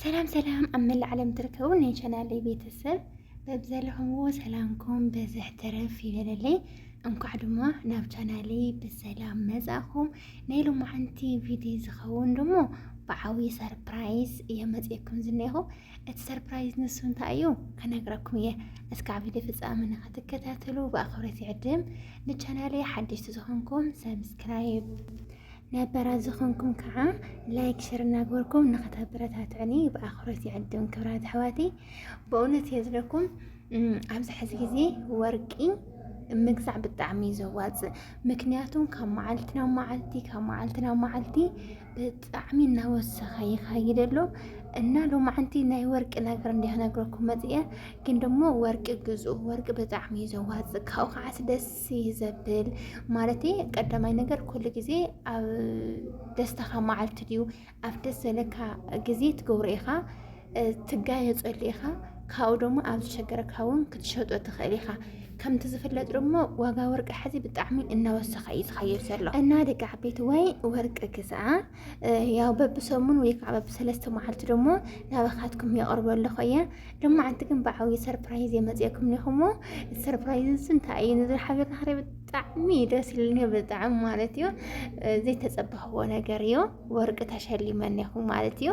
ሰላም ሰላም ኣብ መላእ ዓለም ትርከቡ ናይ ቻናለይ ቤተሰብ በብዘለኹምዎ ሰላምኩም በዝሕ ተረፍ ይበለለይ። እንኳዕ ድማ ናብ ቻናለይ ብሰላም መጻእኹም። ናይ ሎማዓንቲ ቪድዮ ዝኸውን ደሞ ብዓብዪ ሰርፕራይዝ እየ መፅኩም ዝኒኹ እቲ ሰርፕራይዝ ንሱ እንታይ እዩ ክነግረኩም እየ እስከ ኣብ ቪድዮ ፍፃሚ ንክትከታተሉ ብኣኽብረት ይዕድም ንቻናሌ ሓደሽቲ ዝኾንኩም ሰብስክራይብ ነበራ ዝኾንኩም ከዓ ላይክ ሽር እናግበርኩም ንክተበረታትዕኒ ብኣኽብረት ይዕድም ክብራት ኣሕዋቲ ብእውነት እየ ዝለኩም ኣብዚ ሕዚ ግዜ ወርቂ ምግዛዕ ብጣዕሚ እዩ ዘዋፅእ ምክንያቱም ካብ መዓልቲ ናብ መዓልቲ ካብ መዓልቲ ናብ መዓልቲ ብጣዕሚ እናወሰኸ ይኸይድ ኣሎ እና ሎማዓንቲ ናይ ወርቂ ነገር እንዲያ ክነግረኩም መፅአ ግን ደሞ ወርቂ ግዝኡ ወርቂ ብጣዕሚ እዩ ዘዋፅእ ካብኡ ከዓስ ደስ እዩ ዘብል ማለት ቀዳማይ ነገር ኩሉ ግዜ ኣብ ደስታኻ መዓልቲ ድዩ ኣብ ደስ ዘለካ ግዜ ትገብሮ ኢኻ ትጋየፀሉ ኢኻ ካብኡ ደሞ ኣብ ዝሸገረካ እውን ክትሸጦ ትኽእል ኢኻ ከምቲ ዝፍለጥ ደሞ ዋጋ ወርቂ ሕዚ ብጣዕሚ እናወሰኸ እዩ ዝኸይድ ዘሎ እና ደቂ ዓበይቲ ወይ ወርቂ ግዝኣ ያው በብሰሙን ወይ ከዓ በብሰለስተ መዓልቲ ደሞ ናባኻትኩም የቕርቦ ኣለኹ እየ ደሞ ዓንቲ ግን ብዓብዪ ሰርፕራይዝ የመፅየኩም ኒኹሞ ሰርፕራይዝ እንታይ እዩ ንዚ ሓቢርና ክሪ ብጣዕሚ ደስ ኢሉኒ ብጣዕሚ ማለት እዩ ዘይተፀበኽዎ ነገር እዩ ወርቂ ተሸሊመን ያኹ ማለት እዩ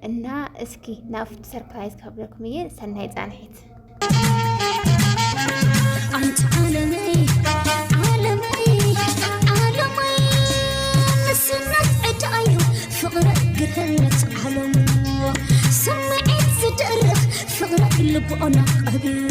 እና እስኪ ናብቲ ሰርፕራይዝ ካብለኩም እየ ሰናይ ፃንሒት ስምዒት ዝድርኽ ፍቕረ ልብኦና ቀቢሉ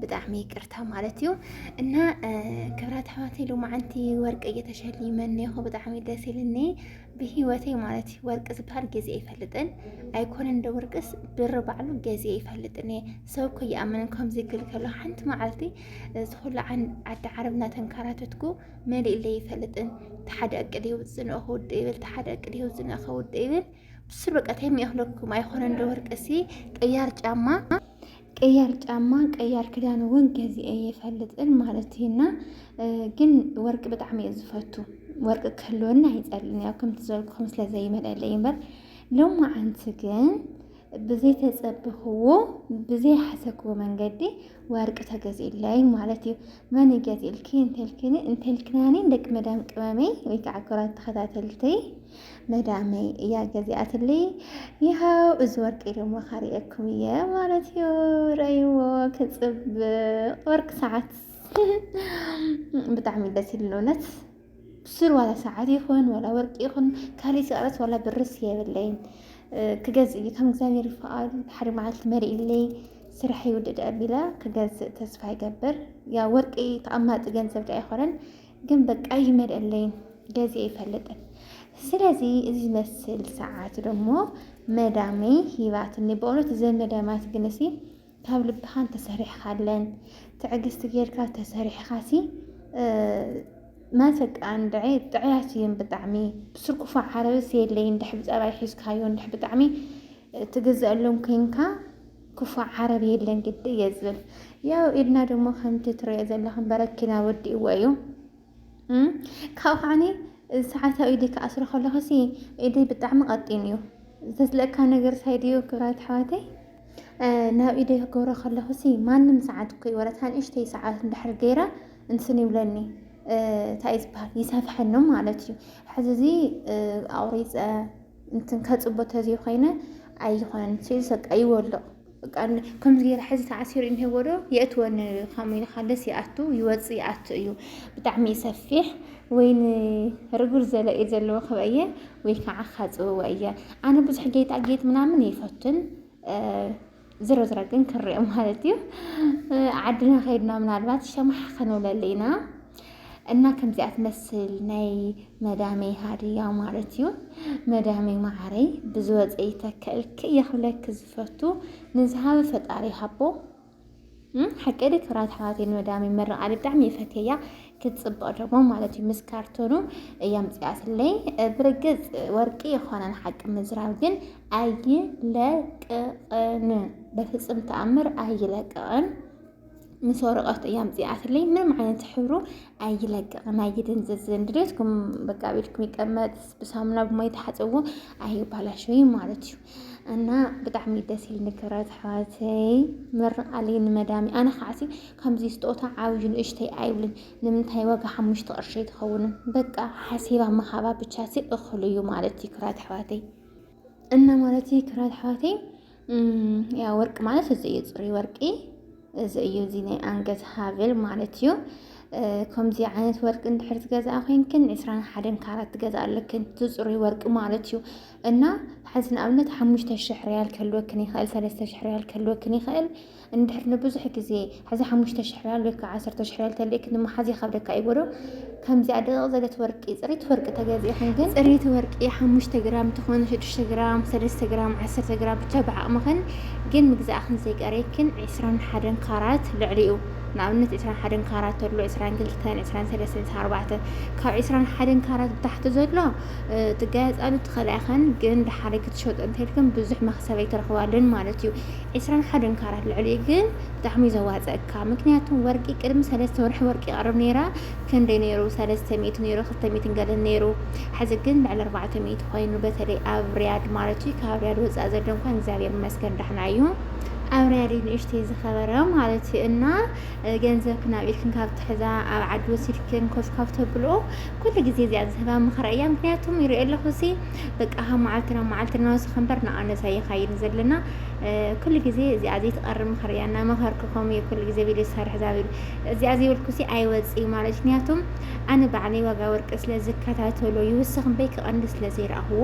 ብጣዕሚ ይቅርታ ማለት እዩ እና ክብራት ኣሕዋት ሎማዓንቲ ወርቂ እየተሸሊመኒ ይኹ ብጣዕሚ ደስ ኢልኒ ብሂወቴ ማለት እዩ ወርቂ ዝበሃል ግዜ ይፈልጥን ኣይኮነን እንደ ወርቅስ ብር ባዕሉ ግዜ ይፈልጥን እየ ሰብ እኮ ይኣምን ከምዚ ክብል ከሎ ሓንቲ መዓልቲ ዝኩሉ ዓዲ ዓረብ እናተንከራተትኩ መሊእለይ ይፈልጥን ተሓደ እቅድ ይውፅእ ንእኹ ውድ ይብል ተሓደ እቅድ ይውፅእ ንእኸ ውድ ይብል ብስር በቃ ተሚእኽለኩም ኣይኮነ እንደ ወርቅሲ ቅያር ጫማ ቀያር ጫማ ቀያር ክዳን እውን ገዚአ የፈልጥን ማለት እዩና ግን ወርቂ ብጣዕሚ እየ ዝፈቱ ወርቂ ክህልወኒ ኣይፀልን ያው ከምቲ ዝበልኩኹም ስለ ዘይመለለይ እምበር ሎሚ ዓንቲ ግን ብዘይ ተፀብኽዎ ብዘይ ሓሰክዎ መንገዲ ወርቂ ተገዚለይ ማለት እዩ መን እዩ ገት ኢልኪ እንተልክኒ እንተልክናኒ ደቂ መዳም ቅመመይ ወይ ከዓ ክራት ተኸታተልተይ መዳመይ እያ ገዚኣትለይ ይሃው እዚ ወርቂ ድማ ካሪኤኩም እየ ማለት እዩ ረእይዎ ክፅብቅ ወርቂ ሰዓት ብጣዕሚ ደስ ይብል እውነት ስር ዋላ ሰዓት ይኹን ዋላ ወርቂ ይኹን ካልእ ሰዕረት ዋላ ብርስ የብለይን ክገዝእ እዩ ከም እግዚኣብሔር ይፈቃድ ሓደ መዓልቲ መሪእለይ ስራሕ ይውድድ ኣቢላ ክገዝእ ተስፋ ይገብር ያ ወርቂ ተቐማጢ ገንዘብ ዳ ኣይኮነን ግን በቃ ይመልአለይን ገዜ ይፈልጥን ስለዚ እዚ ዝመስል ሰዓት ደሞ መዳመይ ሂባትኒ በእውነት እዘን መዳማት ግን እሲ ካብ ልብኻ እንተሰሪሕኻለን ትዕግስቲ ጌርካ እንተሰሪሕኻሲ ማሰቃ እንድዒ ጥዕያት እዩን ብጣዕሚ ብስርኩፋ ዓረብስ የለይን ድሕ ብፀባይ ሒዝካዮ እንድሕ ብጣዕሚ ትግዘአሎም ኮይንካ ክፉእ ዓረብ የለን ግዲ እየ ዝብል ያው ኢድና ደሞ ከምቲ ትሪኦ ዘለኽን በረኪና ወዲእዎ እዩ ካብኡ ከዓኒ ሰዓታዊ ኢደይ ክኣስሮ ከለኹሲ ኢደይ ብጣዕሚ ቀጢን እዩ ዘስለካ ነገር ሳይድዩ ክብራት ኣሕዋተይ ናብ ኢደይ ክገብሮ ከለኹሲ ማንም ሰዓት እኮ ይወረት ንእሽተይ ሰዓት እንድሕር ገይረ እንትን ይብለኒ እንታይ እዩ ዝበሃል ይሰፍሐኒ ማለት እዩ ሕዚ እዚ ኣቑሪፀ እንትን ከፅቦ ተዘይኮይነ ኣይኾነን ስልሲ በቃ ይወልቕ ከምዚ ገይረ ሕዚ ተዓሲሩ እንሄዎ ዶ የእትወኒ ከምኡ ኢልካ ደስ ይኣቱ ይወፅ ይኣቱ እዩ ብጣዕሚ እዩ ሰፊሕ ወይ ንርጉር ዘለ እዩ ዘለዎ ክበ እየ ወይ ከዓ ካፅብዎ እየ ኣነ ብዙሕ ጌጣጌጥ ምናምን ይፈትን ዝሮ ዝሮ ግን ክሪኦ ማለት እዩ ዓድና ከይድና ምናልባት ሸማሕ ከንብለሉ ኢና እና ከምዚኣ ትመስል ናይ መዳመይ ሃድያ ማለት እዩ መዳመይ ማዓረይ ብዝወፀ ይተከልክ እየ ክብለክ ፈቱ ንዝሃበ ፈጣሪ ይሃቦ ሓቂ ዲ ክብራት ኣሕዋተይ ንመዳመይ መረቓ ብጣዕሚ ይፈትየያ ክትፅብቕ ደግሞ ማለት እዩ ምስ ካርቶኑ እያምፅኣትለይ ብርግፅ ወርቂ የኾነን ሓቂ ምዝራብ ግን ኣይለቅቕን በፍፅም ተኣምር ኣይለቅቕን ምስ ወረቐት እያምፅኣትለይ ምንም ዓይነት ሕብሩ ኣይለቅቕን ኣይድንዝዝን ድሌትኩም በቃ ቤትኩም ይቀመጥ ብሳሙና ብማይ ተሓፅብዎ ኣይባላሽ ወይ ማለት እዩ እና ብጣዕሚ ደስ ኢል ንክረት ኣሕዋተይ ምርቃሊ ንመዳሚ ኣነ ከዓሲ ከምዚ ስጦታ ዓብዩ ንእሽተይ ኣይብልን ንምንታይ ዋጋ ሓሙሽተ ቅርሺ ኣይትኸውንን በቃ ሓሲባ ምሃባ ብቻ ሲ እኽሉ እዩ ማለት እዩ ክራት ኣሕዋተይ እና ማለት እዩ ክራት ኣሕዋተይ ያ ወርቂ ማለት እዚ እዩ ፅሩይ ወርቂ እዚ እዩ እዚ ናይ ኣንገት ሃብል ማለት እዩ ከምዚ ዓይነት ወርቂ እንድሕር ትገዛእ ኮይንክን ዕስራን ሓደን ካራት ትገዛእ ኣለክን ዝፅሩይ ወርቂ ማለት እዩ እና ሓዚ ንኣብነት ሓሙሽተ ሽሕ ሪያል ክህልወክን ይኽእል ሰለስተ ሽሕ ሪያል ክህልወክን ይኽእል እንድሕር ንብዙሕ ግዜ ሕዚ ሓሙሽተ ሽሕ ሪያል ወይ ከዓ ዓሰርተ ሽሕ ሪያል ተልእክን ንምሓዝ ይኸብደካ ይበሎ ከምዚኣ ድቕቕ ዘለት ወርቂ ፅሪት ወርቂ ተገዚእኽን ግን ፅሪት ወርቂ ሓሙሽተ ግራም ትኹን ሽዱሽተ ግራም ሰለስተ ግራም ዓሰርተ ግራም ብቻ ብዓቕምኽን ግን ምግዛእኽን ዘይቀርየክን ዕስራን ሓደን ካራት ልዕሊኡ ንኣብነት ዕስራን ሓደን ካራት ተሎ ዕስራን ክልተን ዕስራን ሰለስተን ዕስራን ኣርባዕተን ካብ ዕስራን ሓደን ካራት ብታሕቲ ዘሎ ትጋየፃሉ ትኽእላ ኢኽን ግን ደሓሪ ክትሸጦ እንተልክን ብዙሕ መክሰብ ኣይትረኽባሉን ማለት እዩ ዕስራን ሓደን ካራት ልዕሊኡ ግን ብጣዕሚ እዩ ዘዋፀእካ ምክንያቱ ወርቂ ቅድሚ ሰለስተ ወርሒ ወርቂ ይቀርብ ነይራ ክንደይ ነይሩ ሰለስተ ሚእቲ ነይሩ ክልተ ሚእትን ገለን ነይሩ ሕዚ ግን ልዕሊ ኣርባዕተ ሚእቲ ኮይኑ በተለይ ኣብ ሪያድ ማለት እዩ ካብ ሪያድ ወፃእ ዘሎ እንኳን እግዚኣብሔር ይመስገን ዳሕና እዩ ኣብ ሪያድ ንእሽተይ ዝኸበረ ማለት እዩ እና ገንዘብክን ኣብ ኢድክን ካብ ትሕዛ ኣብ ዓዲ ወሲድክን ኮፍ ካብ ተብልኦ ኩሉ ግዜ እዚኣ ዝህባ ምኽራ እያ ምክንያቱም ይሪኦ ኣለኹ ሲ በቃ ካብ መዓልቲ ናብ መዓልቲ እናወሰኸ እምበር ንኣነስ ኣይኻይድን ዘለና ኩሉ ግዜ እዚኣ ዘይትቐርብ ምኽሪ እያ እናመኸርኩ ከምኡ እየ ኩሉ ግዜ ቪድዮ ዝሰርሕ ዛቢሉ እዚኣ ዘይበልኩሲ ኣይወፅእ ማለት ምክንያቱ ኣነ ባዕለይ ዋጋ ወርቂ ስለ ዝከታተሎ ይውስኽ እምበይ ክቐንድ ስለ ዘይረኣኽዎ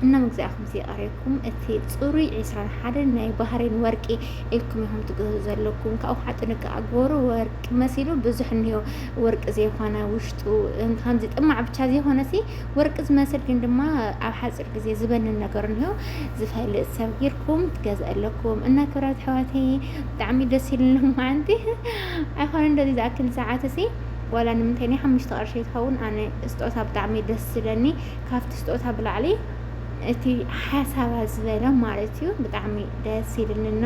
እና መግዛእኹም ዘይቐርየኩም እቲ ፅሩይ ዕስራን ሓደን ናይ ባህሬን ወርቂ ኢልኩም ኢኹም ትገዙ ዘለኩም ካብኡ ከዓ ጥንቃቐ ግበሩ ወርቂ መሲሉ ብዙሕ እኒኦ ወርቂ ዘይኮነ ውሽጡ ከምዚ ጥማዕ ብቻ ዘይኮነ ሲ ወርቂ ዝመስል ግን ድማ ኣብ ሓፂር ግዜ ዝበንን ነገር እንሆ ዝፈልጥ ሰብ ጌርኩም ትገዝእ ኣለኩም እና ክብራት ኣሕዋተይ ብጣዕሚ ደስ ኢሉኒ መዓንቲ ኣይኮነ እንደዚ ዝኣክል ሰዓት እሲ ዋላ ንምንታይ ናይ ሓሙሽተ ቅርሺ ትኸውን ኣነ ስጦታ ብጣዕሚ ደስ ዝለኒ ካብቲ ስጦታ ብላዕሊ እቲ ሓሳባ ዝበለ ማለት እዩ ብጣዕሚ ደስ ይብልንና